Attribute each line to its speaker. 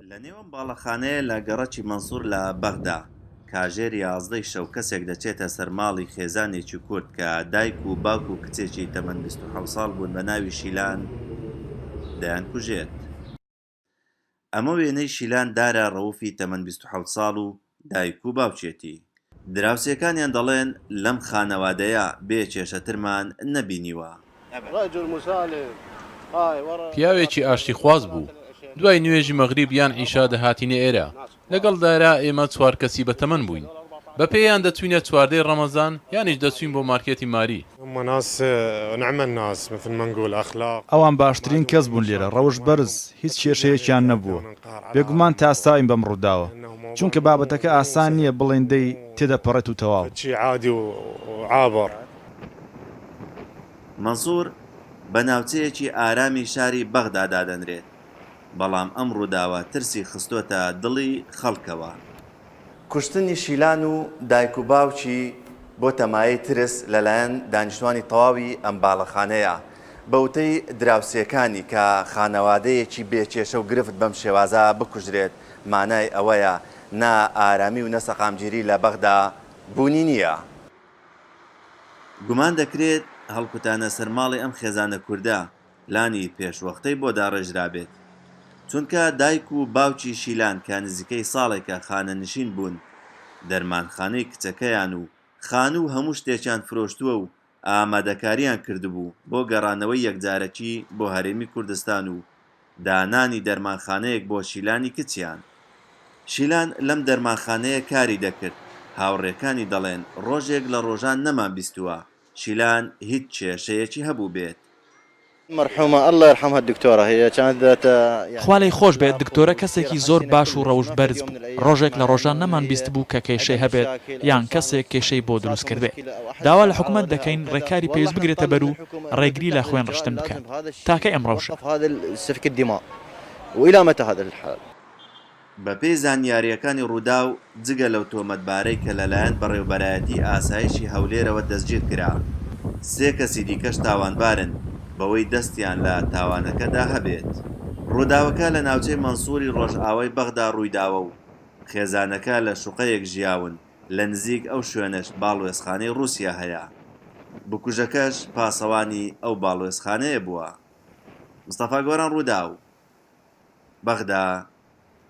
Speaker 1: لە نێو ئەم باڵەخانەیە لە گەڕەکی مەنسوور لە بەغدا، کاژێر یازدەی شەو کەسێک دەچێتە سەر ماڵی خێزانێکی کورد کە دایک و باوک و کچێکی تەمەن بیست و حەوت ساڵ بوون بە ناوی شیلان دەیانکوژێت. ئەمە وێنەی شیلان دارا ڕەوفی تەمەن بیست و حەوت ساڵ و دایک و باوکیەتی. دراوسێکانیان دەڵێن لەم خانەوادەیە بێ کێشەترمان نەبینیوە. رجل مسالم.
Speaker 2: پیاوێکی ئاشتیخواز بوو، دوای نوێژی مەغریب یان عیشا دەهاتینە ئێرە، لەگەڵ دایرا ئێمە چوار کەسی بەتەمەن بووین، بەپێیان دەچووینە چواردەی رەمەزان، یانیش دەچووین بۆ مارکێتی ماری. هما ناس نعم الناس مثل
Speaker 3: ما نقول اخلاق. ئەوان باشترین کەس بوون لێرە، ڕەوشت بەرز، هیچ کێشەیەکیان نەبووە، بێگومان تاساوین بەم ڕووداوە، چونکە بابەتەکە ئاسان نییە بڵێین دەی تێدەپەڕێت و تەواو.
Speaker 1: مەنسوور بە ناوچەیەکی ئارامی شاری بەغدا دادەنرێت، بەڵام ئەم ڕووداوە ترسی خستۆتە دڵی خەڵکەوە، کوشتنی شیلان و دایک و باوکی بۆتە مایەی ترس لەلایەن دانیشتوانی تەواوی ئەم باڵەخانەیە. بە وتەی دراوسێکانی کە خانەوادەیەکی بێ کێشە و گرفت بەم شێوازە بکوژرێت مانای ئەوەیە نە ئارامی و نە سەقامگیری لە بەغدا بوونی نییە. گومان دەکرێت هەڵکوتانە سەر ماڵی ئەم خێزانە کوردە لانی پێشوەختەی بۆ داڕێژرابێت، چونکە دایک و باوکی شیلان کە نزیکەی ساڵێکە خانەنشین بوون، دەرمانخانەی کچەکەیان و خانوو و هەموو شتێکیان فرۆشتووە و ئامادەکارییان کردبوو بۆ گەڕانەوەی یەکجارەکی بۆ هەرێمی کوردستان و دانانی دەرمانخانەیەک بۆ شیلانی کچیان. شیلان لەم دەرمانخانەیە کاری دەکرد، هاوڕێکانی دەڵێن ڕۆژێک لە ڕۆژان نەمانبیستووە، شیلان هیچ کێشەیەکی هەبوو بێت. مەرحومە اللە یرحمها دکتۆرە
Speaker 4: هەیە چانس بداتە. خوا لێی خۆش بێت دکتۆرە کەسێکی زۆر باش و ڕەوشت بەرز بوو ڕۆژێک لە ڕۆژان نەمان بیست بوو کە کێشەی هەبێت یان کەسێک کێشەی بۆ دروست کردبێت داوا لە حکومەت دەکەین ڕێکاری پێویست بگرێتە بەر و ڕێگری لە خوێن ڕشتن بکات تاکەی ئەم ڕەوشە.
Speaker 1: بەپێی زانیارییەکانی رووداو، جگە لەو تۆمەتبارەی کە لەلایەن بەڕێوەبەرایەتیی ئاسایشی هەولێرەوە دەستگیرکرا، سێ کەسی دیکەش تاوانبارن بەوەی دەستیان لە تاوانەکەدا هەبێت. رووداوەکە لە ناوچەی مەنسووری رۆژئاوای بەغدا روویداوە و خێزانەکە لە شوقەیەک ژیاون، لە نزیک ئەو شوێنەش باڵوێزخانەی رووسیا هەیە. بکوژەکەش پاسەوانی ئەو باڵوێزخانەیە بووە. مستەفا گۆران رووداو، بەغدا.